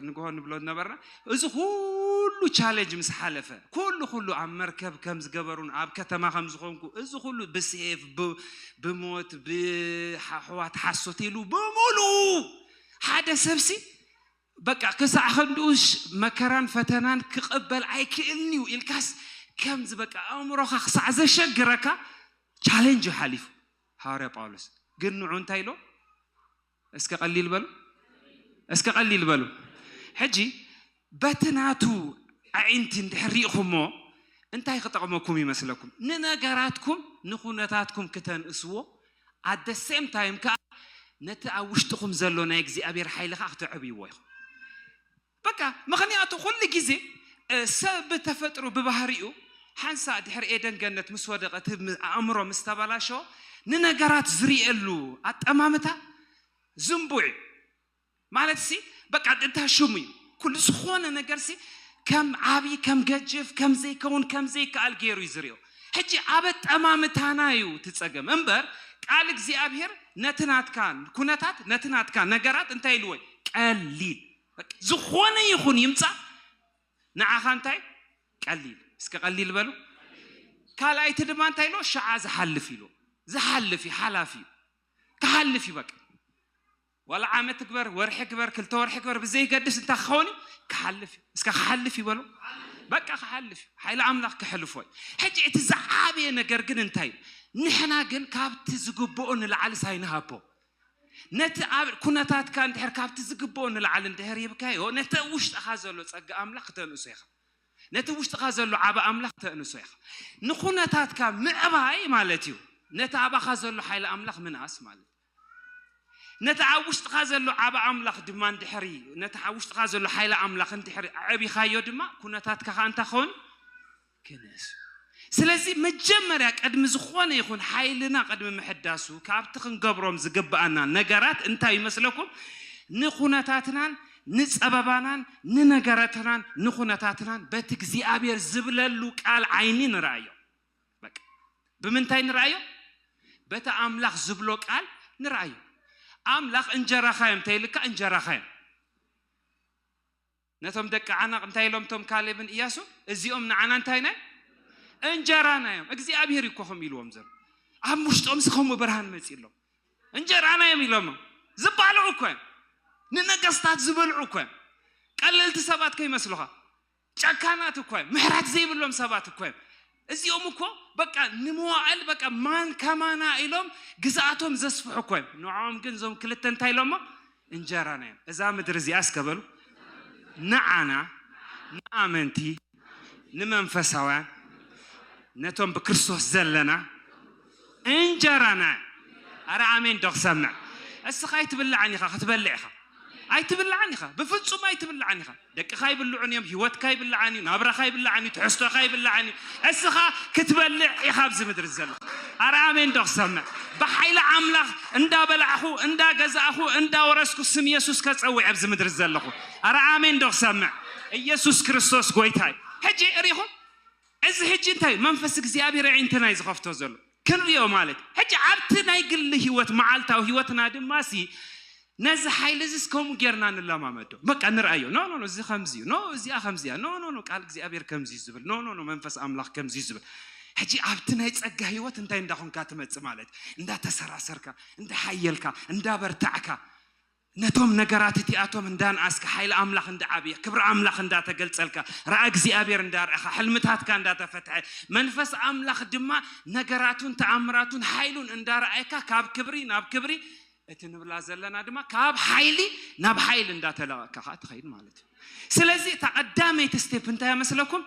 ንግሆ ንብሎ ነበርና እዚ ኩሉ ቻለንጅ ምስ ሓለፈ ኩሉ ኩሉ ኣብ መርከብ ከም ዝገበሩን ኣብ ከተማ ከም ዝኾንኩ እዚ ኩሉ ብሴፍ ብሞት ብሓሕዋት ሓሶት ኢሉ ብምሉኡ ሓደ ሰብሲ በቃ ክሳዕ ክንድኡሽ መከራን ፈተናን ክቕበል ኣይክእልን እዩ ኢልካስ ከምዚ በቃ ኣእምሮኻ ክሳዕ ዘሸግረካ ቻሌንጅ እዩ ሓሊፉ ሃዋርያ ጳውሎስ ግን ንዑ እንታይ ኢሎ እስከ ቀሊል በሉ እስከ ቀሊል በሉ ሕጂ በቲ ናቱ ኣዒንቲ እንድሕር ርኢኹሞ እንታይ ክጠቕመኩም ይመስለኩም? ንነገራትኩም ንኩነታትኩም ክተንእስዎ ኣት ዘ ሴም ታይም ከኣ ነቲ ኣብ ውሽጥኹም ዘሎ ናይ እግዚኣብሔር ሓይሊ ከኣ ክተዕብይዎ ኢኹም። በቃ ምኽንያቱ ኩሉ ግዜ ሰብ ብተፈጥሩ ብባህሪኡ ሓንሳእ ድሕሪ ኤደን ገነት ምስ ወደቐ እቲ ኣእምሮ ምስ ተበላሸወ ንነገራት ዝርእየሉ ኣጠማምታ ዝንቡዕ እዩ። ማለት ሲ በቃ እንታ ሽሙ እዩ ኩሉ ዝኾነ ነገር ሲ ከም ዓብዪ ከም ገጅፍ ከም ዘይከውን ከም ዘይከኣል ገይሩ እዩ ዝሪኦ ሕጂ ኣብ ኣጠማምታና እዩ እቲ ፀገም እምበር ቃል እግዚኣብሄር ነቲ ናትካ ኩነታት ነቲ ናትካ ነገራት እንታይ ኢልዎ እዩ? ቀሊል በቃ ዝኾነ ይኹን ይምፃእ ንዓኻ እንታይ ቀሊል እስከ ቀሊል በሉ ካልኣይቲ ድማ እንታይ ኢልዎ ሸዓ ዝሓልፍ ኢልዎ ዝሓልፍ እዩ ሓላፊ እዩ ክሓልፍ እዩ በቃ ዋላ ዓመት ግበር ወርሒ ግበር ክልተ ወርሒ ግበር ብዘይገድስ እንታይ ክኸውን እዩ ክሓልፍ እዩ እስከ ክሓልፍ ይበሉ በቃ ክሓልፍ እዩ ሓይሊ ኣምላኽ ክሕልፎ እዩ ሕጂ እቲ ዝዓበየ ነገር ግን እንታይ እዩ ንሕና ግን ካብቲ ዝግብኦ ንላዕሊ ሳይንሃቦ ነቲ ኣብ ኩነታትካ እንድሕር ካብቲ ዝግብኦ ንላዕሊ እንድሕር ሂብካዮ ነቲ ውሽጥኻ ዘሎ ጸጋ ኣምላኽ ክተንእሶ ኢኻ ነቲ ውሽጥኻ ዘሎ ዓበ ኣምላኽ ክተእንሶ ኢኻ ንኩነታትካ ምዕባይ ማለት እዩ ነቲ ኣባኻ ዘሎ ሓይሊ ኣምላኽ ምንኣስ ማለት እዩ ነቲ ኣብ ውሽጥኻ ዘሎ ዓብ ኣምላኽ ድማ እንድሕሪ ነቲ ኣብ ውሽጥኻ ዘሎ ሓይሊ ኣምላኽ እንድሕሪ ኣዕቢኻዮ ድማ ኩነታትካ ከዓ እንታይ ኸውን ክነሱ ስለዚ መጀመርያ ቅድሚ ዝኾነ ይኹን ሓይልና ቅድሚ ምሕዳሱ ካብቲ ክንገብሮም ዝግብኣና ነገራት እንታይ ይመስለኩም ንኩነታትናን ንፀበባናን ንነገረትናን ንኩነታትናን በቲ እግዚኣብሔር ዝብለሉ ቃል ዓይኒ ንረኣዮ ብምንታይ ንርኣዮ? በቲ ኣምላኽ ዝብሎ ቃል ንርኣዮ። ኣምላኽ እንጀራኻ እዮም እንተይልካ እንጀራኻ እዮም። ነቶም ደቂ ዓናቕ እንታይ ኢሎም እቶም ካሌብን እያሱ እዚኦም ንዓና እንታይ ናይ እንጀራና እዮም እግዚኣብሄር እዩ እኮ ከም ኢልዎም ዘሎ ኣብ ውሽጦም ዝኸምኡ ብርሃን መፂ ኣሎም እንጀራና እዮም ኢሎም ዝበልዑ እኮ እዮም ንነገስታት ዝበልዑ እኮ እዮም ቀለልቲ ሰባት ከይመስልኻ ጨካናት እኮ እዮም ምሕረት ዘይብሎም ሰባት እኮ እዮም እዚኦም እኮ በቃ ንመዋእል በቃ ማን ከማና ኢሎም ግዝኣቶም ዘስፍሑ እኮ እዮም ንዖም ግን እዞም ክልተ እንታይ ኢሎሞ እንጀራና እዮም እዛ ምድሪ እዚኣ እስከ በሉ ንዓና ንኣመንቲ ንመንፈሳውያን ነቶም ብክርስቶስ ዘለና እንጀራ ናይ ኣረ ኣሜን ዶ ክሰምዕ እስኻ ኣይትብላዕን ኢኻ ክትበልዕ ኢኻ ኣይትብላዕን ኢኻ ብፍጹም ኣይትብላዕን ኢኻ ደቅኻ ይብልዑን እዮም ህይወትካ ይብላዕን እዩ ናብራኻ ይብላዕን እዩ ትሕዝቶኻ ይብላዕን እዩ እስኻ ክትበልዕ ኢኻ ኣብዚ ምድሪ ዘለኻ ኣረ ኣሜን ዶ ክሰምዕ ብሓይሊ ኣምላኽ እንዳበላዕኹ እንዳገዛእኹ እንዳወረስኩ ስም የሱስ ከጸውዕ ኣብዚ ምድሪ ዘለኹ ኣረ ኣሜን ዶ ክሰምዕ ኢየሱስ ክርስቶስ ጎይታ እዩ ሕጂ ርኢኹም እዚ ሕጂ እንታይ እዩ መንፈስ እግዚኣብሔር ኣዒንትና እዩ ዝኸፍቶ ዘሎ ክንሪኦ ማለት እዩ ሕጂ ኣብቲ ናይ ግሊ ህይወት መዓልታዊ ህይወትና ድማ ሲ ነዚ ሓይሊ እዚስ ከምኡ ጌርና ንለማመዶ በቃ ንርኣዮ ኖ ኖ ኖ እዚ ከምዚ እዩ ኖ እዚኣ ከምዚ እያ ኖ ኖ ኖ ቃል እግዚኣብሔር ከምዚ እዩ ዝብል ኖ ኖ ኖ መንፈስ ኣምላኽ ከምዚ እዩ ዝብል ሕጂ ኣብቲ ናይ ጸጋ ህይወት እንታይ እንዳኾንካ ትመጽእ ማለት እዩ እንዳተሰራሰርካ እንዳሓየልካ እንዳበርታዕካ ነቶም ነገራት እቲኣቶም እንዳንኣስካ፣ ሓይሊ ኣምላኽ እንዳዓብየ፣ ክብሪ ኣምላኽ እንዳተገልጸልካ፣ ራኢ እግዚኣብሔር እንዳርኣኻ፣ ሕልምታትካ እንዳተፈትሐ፣ መንፈስ ኣምላኽ ድማ ነገራቱን ተኣምራቱን ሓይሉን እንዳርኣየካ ካብ ክብሪ ናብ ክብሪ፣ እቲ ንብላ ዘለና ድማ ካብ ሓይሊ ናብ ሓይሊ እንዳተለቐቕካ ከኣ ትኸይድ ማለት እዩ። ስለዚ እታ ቀዳመይቲ ስቴፕ እንታይ እያ መስለኩም?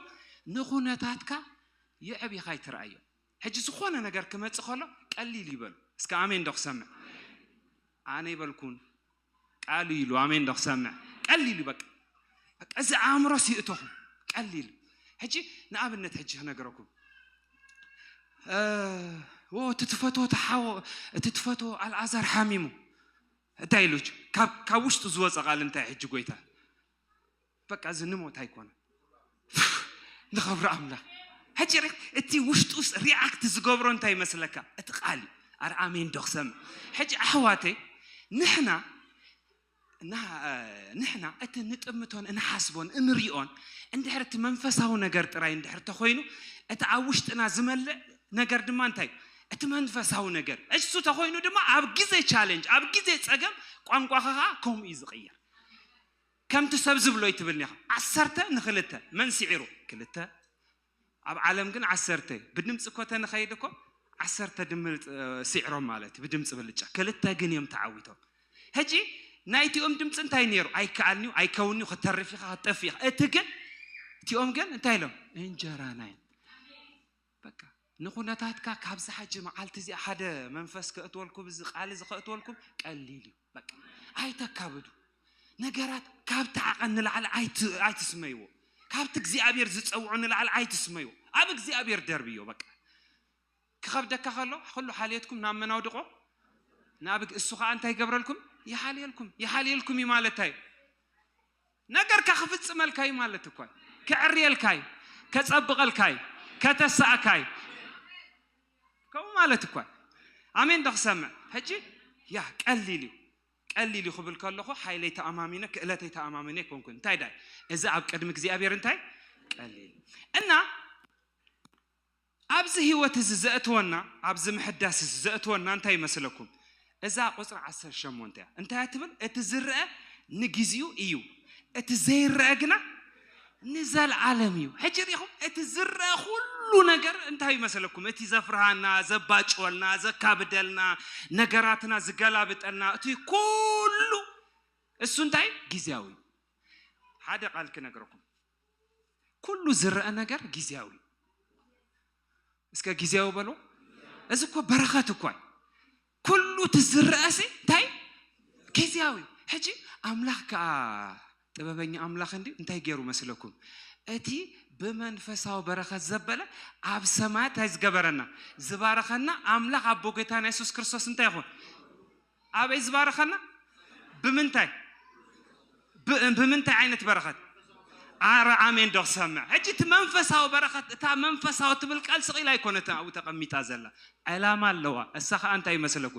ንኹነታትካ የዕቢኻ ኣይትርኣዮ። ሕጂ ዝኾነ ነገር ክመጽእ ከሎ ቀሊል እዩ በሉ እስከ ኣሜን ዶ ክሰምዕ። ኣነ ኣይበልኩን ቃሉ ኢሉ ኣሜን ዶ ክሰምዕ ቀሊል እዩ በቃ በቃ እዚ ኣእምሮስ ይእተኹም ቀሊል ሕጂ ንኣብነት ሕጂ ክነገረኩም እቲ ትፈትዎ ተሓዎ እቲ ትፈትዎ ኣልኣዛር ሓሚሙ እንታይ ኢሉ ካብ ውሽጡ ዝወፀ ቃል እንታይ ሕጂ ጎይታ በቃ እዚ ንሞት ኣይኮነን ንኸብሪ ኣምላኽ ሕጂ ርክ እቲ ውሽጡስ ሪኣክት ዝገብሮ እንታይ ይመስለካ እቲ ቃል እዩ ኣረ ኣሜን ዶ ክሰምዕ ሕጂ ኣሕዋተይ ንሕና እና ንሕና እቲ ንጥምቶን እንሓስቦን እንሪኦን እንድሕር እቲ መንፈሳዊ ነገር ጥራይ እንድሕር ተኮይኑ እቲ ኣብ ውሽጥና ዝመልእ ነገር ድማ እንታይ እዩ? እቲ መንፈሳዊ ነገር እሱ ተኮይኑ ድማ ኣብ ግዜ ቻለንጅ ኣብ ግዜ ፀገም ቋንቋኻ ከዓ ከምኡ እዩ ዝቕየር ከምቲ ሰብ ዝብሎ ኣይትብል ኒኻ ዓሰርተ ንክልተ መን ሲዒሩ ክልተ ኣብ ዓለም ግን ዓሰርተ ብድምፂ እኮ ተንኸይድ እኮ ዓሰርተ ድምር ሲዕሮም ማለት እዩ ብድምፂ ብልጫ ክልተ ግን እዮም ተዓዊቶም ሕጂ ናይቲኦም ድምፂ እንታይ ነይሩ ኣይከኣልን እዩ ኣይከውን እዩ ከተርፍ ኢኻ ከተጠፍ ኢኻ እቲ ግን እቲኦም ግን እንታይ ኢሎም እንጀራና እዩ በቃ ንኩነታትካ ካብዚ ሓጂ መዓልቲ እዚኣ ሓደ መንፈስ ከእትወልኩም እዚ ቃል እዚ ከእትወልኩም ቀሊል እዩ። በቃ ኣይተካብዱ ነገራት ካብቲ ዓቐን ንላዕሊ ኣይትስመይዎ። ካብቲ እግዚኣብሔር ዝፀውዑ ንላዕሊ ኣይትስመይዎ። ኣብ እግዚኣብሔር ደርብዮ በቃ ክኸብደካ ከሎ ኩሉ ሓልየትኩም ናብ መን ኣውድቆ ናብ እሱ ከዓ እንታይ ይገብረልኩም ይሓልየልኩም ይሓልየልኩም እዩ ማለት እዩ ነገርካ ክፍጽመልካ እዩ ማለት እኳ እዩ። ከዕርየልካ እዩ፣ ከጸብቐልካ እዩ፣ ከተሳእካ እዩ ከምኡ ማለት እኳ እዩ። ኣሜን ዶ ክሰምዕ ሕጂ ያ ቀሊል እዩ ቀሊል እዩ ክብል ከለኹ ሓይለይ ተኣማሚነ ክእለተይ ተኣማሚነ ኣይኮንኩን እንታይ ዳይ እዚ ኣብ ቅድሚ እግዚኣብሔር እንታይ ቀሊል እና ኣብዚ ህይወት እዚ ዘእትወና ኣብዚ ምሕዳስ እዚ ዘእትወና እንታይ እዩ መስለኩም እዛ ቁጽሪ ዓሰርተ ሸሞንተ እያ እንታይ እያ ትብል እቲ ዝረአ ንግዚኡ እዩ እቲ ዘይረአ ግና ንዘልዓለም እዩ ሕጂ ሪኢኹም እቲ ዝረአ ኩሉ ነገር እንታይ እዩ መስለኩም እቲ ዘፍርሃና ዘባጭወልና ዘካብደልና ነገራትና ዝገላብጠልና እቲ ኩሉ እሱ እንታይ ግዜያዊ ሓደ ቃል ክነግረኩም ኩሉ ዝረአ ነገር ጊዜያዊ እስከ ጊዜያዊ በሎ እዚ እኮ በረኸት እኳ ኩሉ ትዝረአ ሲ እንታይ ጊዜያዊ ሕጂ ኣምላኽ ከዓ ጥበበኛ ኣምላኽ እንዲ እንታይ ገይሩ መስለኩም እቲ ብመንፈሳዊ በረኸት ዘበለ ኣብ ሰማያት እንታይ ዝገበረና ዝባረኸና ኣምላኽ ኣቦ ጌታና የሱስ ክርስቶስ እንታይ ይኹን ኣበይ ዝባረኸና ብምንታይ ብምንታይ ዓይነት በረኸት ኣረ ኣሜን ዶ ክሰምዕ ሕጂ እቲ መንፈሳዊ በረኸት እታ መንፈሳዊ ትብል ቃል ስቂላ ኣይኮነት ኣብኡ ተቐሚጣ ዘላ ዕላማ ኣለዋ እሳ ከዓ እንታይ ይመስለኩ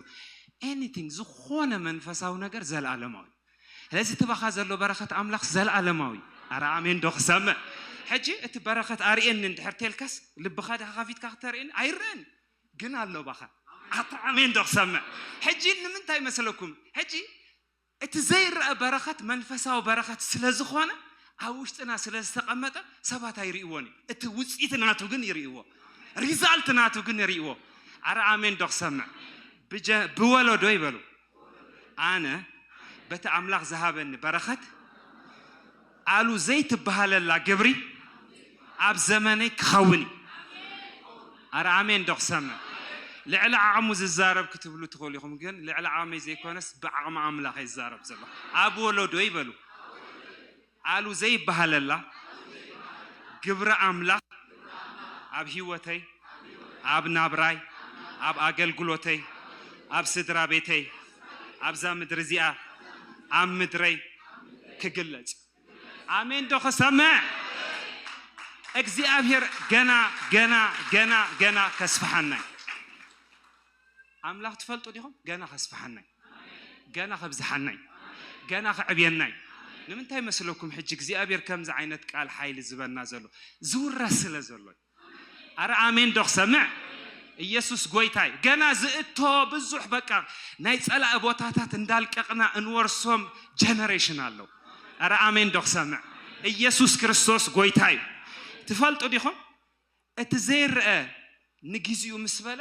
ኤኒቲንግ ዝኾነ መንፈሳዊ ነገር ዘለኣለማዊ ስለዚ እቲ ባኻ ዘሎ በረኸት ኣምላኽ ዘለኣለማዊ ኣረ ኣሜን ዶ ክሰምዕ ሕጂ እቲ በረኸት ኣርእየኒ እንድሕር ቴልካስ ልብኻ ድካ ከፊትካ ክተርእየኒ ኣይረአን ግን ኣሎ ባኻ ኣታ ኣሜን ዶ ክሰምዕ ሕጂ ንምንታይ መሰለኩም ሕጂ እቲ ዘይረኣ በረኸት መንፈሳዊ በረኸት ስለ ዝኾነ ኣብ ውሽጥና ስለ ዝተቐመጠ ሰባት ኣይርእይዎን እዩ እቲ ውፅኢት ናቱ ግን ይርእይዎ ሪዛልት ናቱ ግን ይርእይዎ ኣረ ኣሜን ዶ ክሰምዕ ብወለዶ ይበሉ ኣነ በቲ ኣምላኽ ዝሃበኒ በረኸት ኣሉ ዘይትበሃለላ ግብሪ ኣብ ዘመነይ ክኸውን እዩ። ኣረ ኣሜን ዶ ክሰምዕ ልዕሊ ዓቕሙ ዝዛረብ ክትብሉ ትኽእሉ ኢኹም፣ ግን ልዕሊ ዓቕመይ ዘይኮነስ ብዓቕሚ ኣምላኽ እየ ዝዛረብ ዘለኹ። ኣብ ወለዶይ በሉ ኣሉ ዘይበሃለላ ግብሪ ኣምላኽ ኣብ ሂወተይ ኣብ ናብራይ ኣብ ኣገልግሎተይ ኣብ ስድራ ቤተይ ኣብዛ ምድሪ እዚኣ ኣብ ምድረይ ክግለጽ እዩ ኣሜን ዶ ክሰምዕ እግዚኣብሄር ገና ገና ገና ገና ከስፍሓና እዩ ኣምላኽ ትፈልጡ ዲኹም ገና ከስፍሓና እዩ። ገና ከብዝሓና እዩ ገና ከዕብየና እዩ ንምንታይ መስለኩም ሕጂ እግዚኣብሔር ከምዚ ዓይነት ቃል ሓይሊ ዝበና ዘሎ ዝውረስ ስለ ዘሎ እዩ ኣረ ኣሜን ዶ ክሰምዕ ኢየሱስ ጎይታ እዩ ገና ዝእቶ ብዙሕ በቃ ናይ ጸላኢ ቦታታት እንዳልቀቕና እንወርሶም ጀነሬሽን ኣለው ኣረ ኣሜን ዶ ክሰምዕ ኢየሱስ ክርስቶስ ጎይታ እዩ ትፈልጡ ዲኹም እቲ ዘይረአ ንግዚኡ ምስ በለ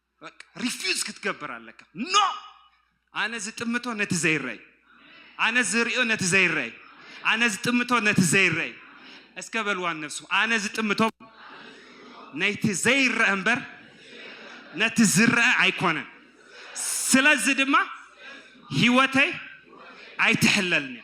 ሪፊዝ ክትገብር ኣለካ ኖ ኣነ ዝጥምቶ ነቲ ዘይረይ ኣነ ዝርዮ ነቲ ዘይረይ ኣነ ዝጥምቶ ነቲ ዘይረይ እስከ በልዋ ነብሱ ኣነ ዝጥምቶ ነቲ ዘይረአ እምበር ነቲ ዝረአ ኣይኮነን ስለዚ ድማ ህይወተይ ኣይትሕለልንያ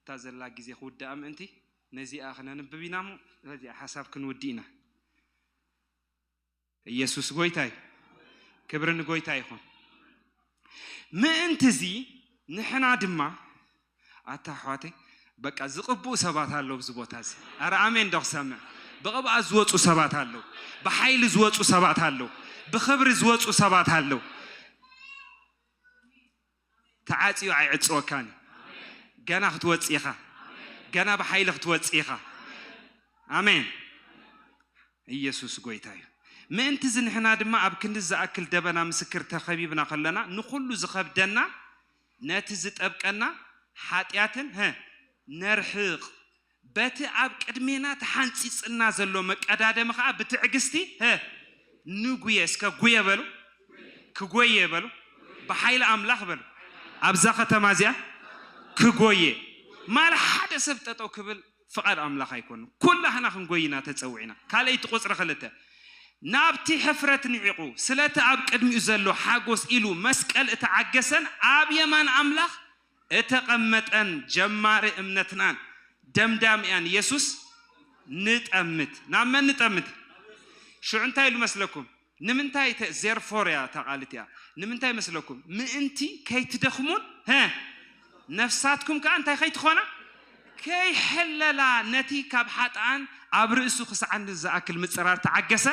እታ ዘላ ግዜ ክውድኣ ምእንቲ ነዚኣ ክነንብብ ኢና እሞ በዚኣ ሓሳብ ክንውድእ ኢና። ኢየሱስ ጎይታ እዩ። ክብሪ ንጎይታ ይኹን። ምእንትዚ ንሕና ድማ ኣታ ኣሕዋተይ በቃ ዝቕብኡ ሰባት ኣለዉ ኣብዚ ቦታ እዚ ኣረ ኣሜን ዶ ክሰምዕ ብቕብኣት ዝወፁ ሰባት ኣለዉ ብሓይሊ ዝወፁ ሰባት ኣለዉ ብኽብሪ ዝወፁ ሰባት ኣለዉ ተዓጽዩ ኣይዕጽወካን እዩ ገና ክትወጽእ ኢኻ ገና ብሓይሊ ክትወጽእ ኢኻ ኣሜን ኢየሱስ ጎይታ እዩ ምእንቲ እዚ ንሕና ድማ ኣብ ክንዲ ዝኣክል ደበና ምስክር ተኸቢብና ከለና ንኹሉ ዝኸብደና ነቲ ዝጠብቀና ሓጢኣትን ነርሕቕ በቲ ኣብ ቅድሜና ተሓንጺጽልና ዘሎ መቀዳደሚ ከኣ ብትዕግስቲ ህ ንጉየ እስከ ጉየ በሉ ክጎየ በሉ ብሓይሊ ኣምላኽ በሉ ኣብዛ ከተማ እዚኣ ክጎየ ማል ሓደ ሰብ ጠጠው ክብል ፍቃድ ኣምላኽ ኣይኮኑ ኩላህና ክንጎይ ኢና ተጸዊዕና ካልኣይቲ ቁጽሪ ክልተ ናብቲ ሕፍረት ንዒቁ ስለቲ ኣብ ቅድሚኡ ዘሎ ሓጎስ ኢሉ መስቀል እተዓገሰን ኣብ የማን ኣምላኽ እተቐመጠን ጀማሪ እምነትናን ደምዳሚኣን የሱስ ንጠምት። ናብ መን ንጠምት? ሽዑ እንታይ ኢሉ መስለኩም? ንምንታይ እተ ዜርፎር እያ እታ ቃል እቲኣ ንምንታይ መስለኩም? ምእንቲ ከይትደኽሙን ሀ ነፍሳትኩም ከኣ እንታይ ከይትኾና ከይሕለላ ነቲ ካብ ሓጥኣን ኣብ ርእሱ ክስዓኒ ዝኣክል ምጽራር ተዓገሰ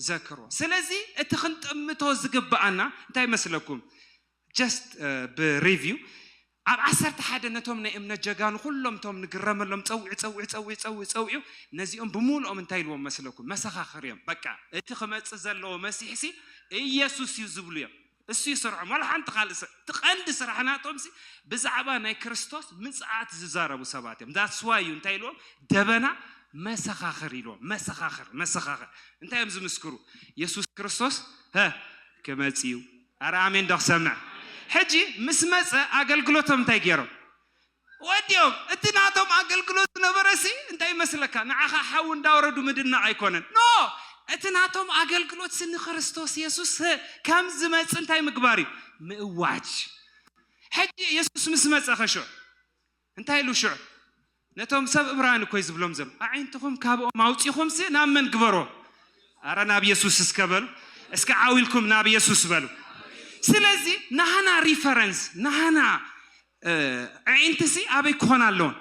ዘክሮ። ስለዚ እቲ ክንጥምቶ ዝግብኣና እንታይ መስለኩም? just ብ review ኣብ ዓሰርተ ሓደ ነቶም ናይ እምነት ጀጋኑ ኩሎም እቶም ንግረመሎም ጸዊዑ ጸዊዑ ጸዊዑ ጸዊዑ ጸዊዑ ነዚኦም ብሙሉኦም እንታይ ኢልዎም መስለኩም መሰኻኽር እዮም በቃ እቲ ክመጽእ ዘለዎ መሲሕ ሲ እየሱስ እዩ ዝብሉ እዮም እሱ እዩ ስርሖም ዋላ ሓንቲ ካልእ ስራሕ እቲ ቀንዲ ስራሕ ናቶም ሲ ብዛዕባ ናይ ክርስቶስ ምጽኣት ዝዛረቡ ሰባት እዮም that's why እዩ እንታይ ኢልዎም ደበና መሰኻኽር ኢልዎም መሰኻኽር መሰኻኽር እንታይ እዮም ዝምስክሩ የሱስ ክርስቶስ ሀ ክመጽእ እዩ ኣረ ኣሜን ዶ ክሰምዕ ሕጂ ምስ መጸ ኣገልግሎቶም እንታይ ጌሮም ወዲኦም እቲ ናቶም ኣገልግሎት ዝነበረሲ እንታይ ይመስለካ ንዓኻ ሓዊ እንዳወረዱ ምድናቕ ኣይኮነን ኖ እቲ ናቶም ኣገልግሎትሲ ንክርስቶስ የሱስ ከም ዝመጽ እንታይ ምግባር እዩ ምእዋጅ ሕጂ የሱስ ምስ መጸ ኸሾ እንታይ ኢሉ ሽዑ ነቶም ሰብ እብራውያን እኮይ ዝብሎም ዘሎ ኣዒንትኹም ካብኦም ኣውጺኹምሲ ናብ መን ግበሮ ኣረ ናብ የሱስ እስከ በሉ እስከ ዓው ኢልኩም ናብ የሱስ በሉ ስለዚ ናህና ሪፈረንስ ናህና ኣዒንትሲ ኣበይ ክኾና ኣለዎን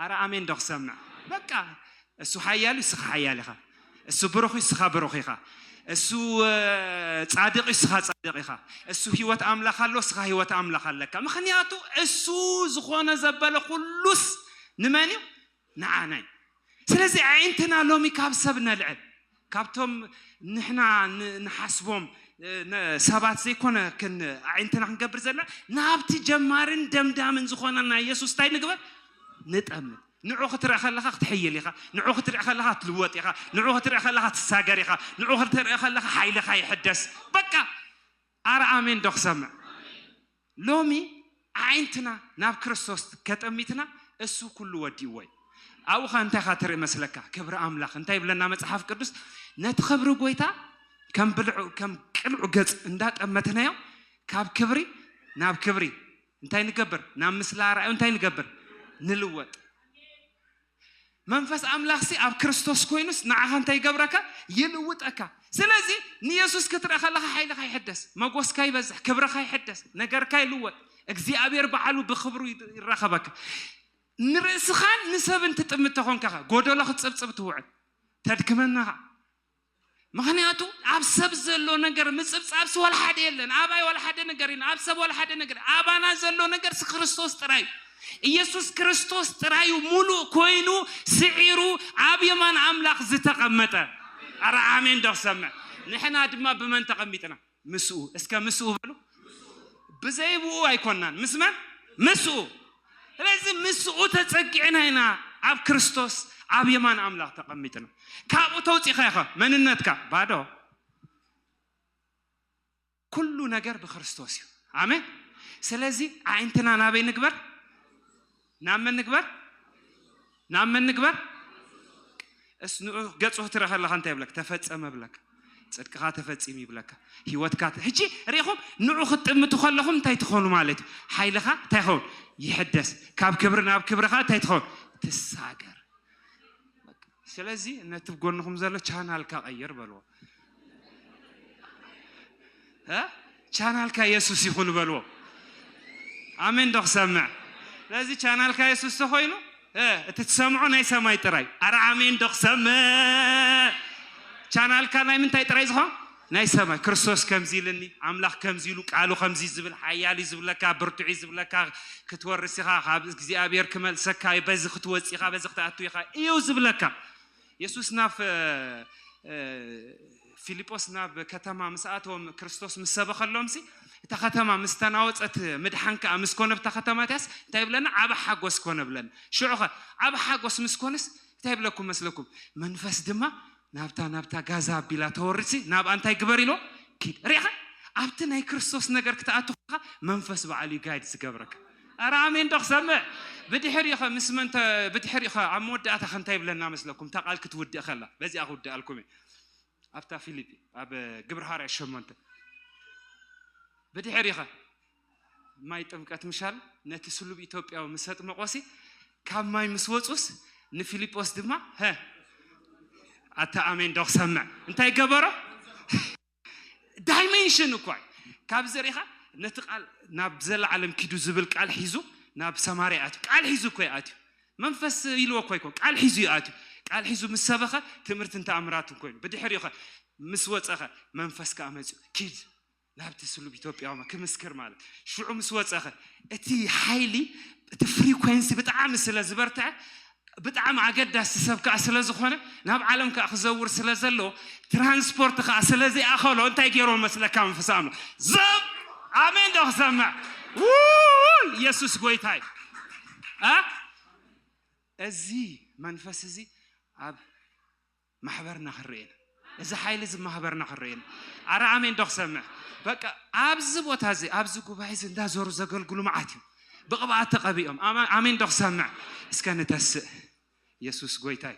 ኣረ ኣሜን ዶ ክሰምዕ በቃ እሱ ሓያል እዩ ስኻ ሓያል ኢኻ እሱ ብሩኽ እዩ ስኻ ብሩኽ ኢኻ እሱ ጻድቅ እዩ ስኻ ጻድቅ ኢኻ እሱ ህይወት ኣምላኽ ኣሎ ስኻ ህይወት ኣምላኽ ኣለካ ምክንያቱ እሱ ዝኾነ ዘበለ ኩሉስ ንመን እዩ ንዓና እዩ ስለዚ ኣዒንትና ሎሚ ካብ ሰብ ነልዕል ካብቶም ንሕና ንሓስቦም ሰባት ዘይኮነ ክን ኣዒንትና ክንገብር ዘለና ናብቲ ጀማርን ደምዳምን ዝኾነና የሱስ እንታይ ንግበር ንጠምት ንዑ ክትርኢ ከለኻ ክትሕይል ኢኻ ንዑ ክትርኢ ከለኻ ትልወጥ ኢኻ ንዑ ክትርኢ ከለኻ ትሳገር ኢኻ ንዑ ክትርኢ ከለኻ ሓይልኻ ይሕደስ በቃ ኣረ ኣሜን ዶ ክሰምዕ ሎሚ ኣዒንትና ናብ ክርስቶስ ከጠሚትና እሱ ኩሉ ወዲእዎ እዩ ኣብኡ ከ እንታይ ካ ትርኢ መስለካ ክብሪ ኣምላኽ እንታይ ይብለና መጽሓፍ ቅዱስ ነቲ ክብሪ ጎይታ ከም ብልዑ ከም ቅልዑ ገጽ እንዳጠመትናዮ ካብ ክብሪ ናብ ክብሪ እንታይ ንገብር ናብ ምስሊ ኣርኣዩ እንታይ ንገብር ንልወጥ መንፈስ ኣምላኽሲ ኣብ ክርስቶስ ኮይኑስ ንዓኻ እንታይ ይገብረካ? ይልውጠካ። ስለዚ ንየሱስ ክትርኢ ከለኻ ሓይልኻ ይሕደስ፣ መጎስካ ይበዝሕ፣ ክብርኻ ይሕደስ፣ ነገርካ ይልወጥ፣ እግዚኣብሔር ባዕሉ ብክብሩ ይራኸበካ። ንርእስኻን ንሰብን ትጥምት ተኾንካኻ ጎደሎ ክትጽብጽብ ትውዕል ተድክመናኻ ምክንያቱ ኣብ ሰብ ዘሎ ነገር ምጽብጻብሲ ዋላ ሓደ የለን ኣባይ ዋላ ሓደ ነገር ኢና ኣብ ሰብ ዋላ ሓደ ነገር ኣባና ዘሎ ነገርሲ ክርስቶስ ጥራይ ኢየሱስ ክርስቶስ ጥራዩ ሙሉእ ኮይኑ ስዒሩ ኣብ የማን ኣምላኽ ዝተቐመጠ ኣረ ኣሜን ዶ ክሰምዕ ንሕና ድማ ብመን ተቐሚጥና ምስኡ እስከ ምስኡ በሉ ብዘይ ብኡ ኣይኮናን ምስ መን ምስኡ ስለዚ ምስኡ ተጸጊዕና ኢና ኣብ ክርስቶስ ኣብ የማን ኣምላኽ ተቐሚጥና ካብኡ ተውፂኻ ኢኻ መንነትካ ባዶ ኩሉ ነገር ብክርስቶስ እዩ ኣሜን ስለዚ ኣዒንትና ናበይ ንግበር ናብ መን ንግበር ናብ መን ንግበር እስ ንዑ ገጹ ክትርኢ ከለካ እንታይ ይብለካ ተፈጸመ ይብለካ ጽድቅኻ ተፈጺሙ ይብለካ ህይወትካ ሕጂ ርኢኹም ንዑ ክትጥምቱ ከለኹም እንታይ ትኾኑ ማለት እዩ ሓይልኻ እንታይ ይኸውን ይሕደስ ካብ ክብሪ ናብ ክብርኻ እንታይ ትኸውን ትሳገር ስለዚ ነቲ ብ ጎንኹም ዘሎ ቻናልካ ቀይር በልዎ እ ቻናልካ የሱስ ይኹን በልዎ ኣሜን ዶ ክሰምዕ ስለዚ ቻናልካ የሱስ ተኾይኑ እ እቲ ትሰምዖ ናይ ሰማይ ጥራይ ኣረ ኣሜን ዶ ክሰምዕ ቻናልካ ናይ ምንታይ ጥራይ ዝኾን ናይ ሰማይ ክርስቶስ ከምዚ ኢልኒ ኣምላኽ ከምዚ ኢሉ ቃሉ ከምዚ እዩ ዝብል ሓያል እዩ ዝብለካ ብርቱዕ እዩ ዝብለካ ክትወርስ ኢኻ ካብ እግዚኣብሔር ክመልሰካ እዩ በዚ ክትወጽእ ኢኻ በዚ ክትኣቱ ኢኻ እዩ ዝብለካ የሱስ ናብ ፊልጶስ ናብ ከተማ ምስ ኣተወም ክርስቶስ ምስ ሰበኸሎምሲ እታ ከተማ ምስ ተናወፀት ምድሓን ከዓ ምስ ኮነ ብታ ከተማ እቲያስ እንታይ ብለና ዓብ ሓጎስ ኮነ ብለና ሽዑኸ ዓብ ሓጎስ ምስ ኮነስ እንታይ ይብለኩም መስለኩም? መንፈስ ድማ ናብታ ናብታ ጋዛ ኣቢላ ተወርሲ ናብኣ እንታይ ግበር ኢሎ ኪድ ሪኢኻ ኣብቲ ናይ ክርስቶስ ነገር ክትኣቱ ከለኻ መንፈስ በዓል እዩ ጋይድ ዝገብረካ ኣረ ኣሜን ዶ ክሰምዕ ብድሕሪኡ ኸ ምስ መን ብድሕሪኡ ኸ ኣብ መወዳእታ ኸ እንታይ ይብለና መስለኩም እታ ቃል ክትውድእ ከላ በዚኣ ክውድኣልኩም እየ ኣብታ ፊልጵ ኣብ ግብረ ሃዋርያ ሸሞንተ ብድሕሪኡ ኸ ማይ ጥምቀት ምሻል ነቲ ስሉብ ኢትዮጵያዊ ምስ ኣጥመቖሲ ካብ ማይ ምስ ወፁስ ንፊልጶስ ድማ ሀ ኣታ ኣሜን ዶ ክሰምዕ እንታይ ገበሮ ዳይሜንሽን እኳ ካብዚ ሪኢኻ ነቲ ቃል ናብ ዘለዓለም ኪዱ ዝብል ቃል ሒዙ ናብ ሰማርያ ኣትዩ ቃል ሒዙ እኮ እዩ ኣትዩ መንፈስ ኢልዎ እኮ ኣይኮ ቃል ሒዙ እዩ ኣትዩ ቃል ሒዙ ምስ ሰበኸ ትምህርትን ተኣምራትን ኮይኑ ብድሕሪኡ ኸ ምስ ወፀኸ መንፈስ ከዓ መፅኡ ኪድ ናብቲ ስሉብ ኢትዮጵያዊ ክምስክር ማለት እዩ። ሽዑ ምስ ወፀኸ እቲ ሓይሊ እቲ ፍሪኮንሲ ብጣዕሚ ስለ ዝበርትዐ ብጣዕሚ ኣገዳሲ ሰብ ከዓ ስለ ዝኾነ ናብ ዓለም ከዓ ክዘውር ስለ ዘለዎ ትራንስፖርት ከዓ ስለ ዘይኣኸሎ እንታይ ገይሮ መስለካ መንፈስ ኣምላኽ ዘብ ኣሜን ዶ ክሰምዕ ውይ ኢየሱስ ጎይታ እዩ እ እዚ መንፈስ እዚ ኣብ ማሕበርና ክረኤን እዚ ሓይሊ እዚ ማህበርና ክረኤን ኣረ ኣሜን ዶ ክሰምዕ በቃ ኣብዚ ቦታ እዚ ኣብዚ ጉባኤ እዚ እንዳዞሩ ዘገልግሉ መዓት እዩ ብቕብኣት ተቐቢኦም ኣሜን ዶ ክሰምዕ እስከ ንተስእ ኢየሱስ ጎይታ እዩ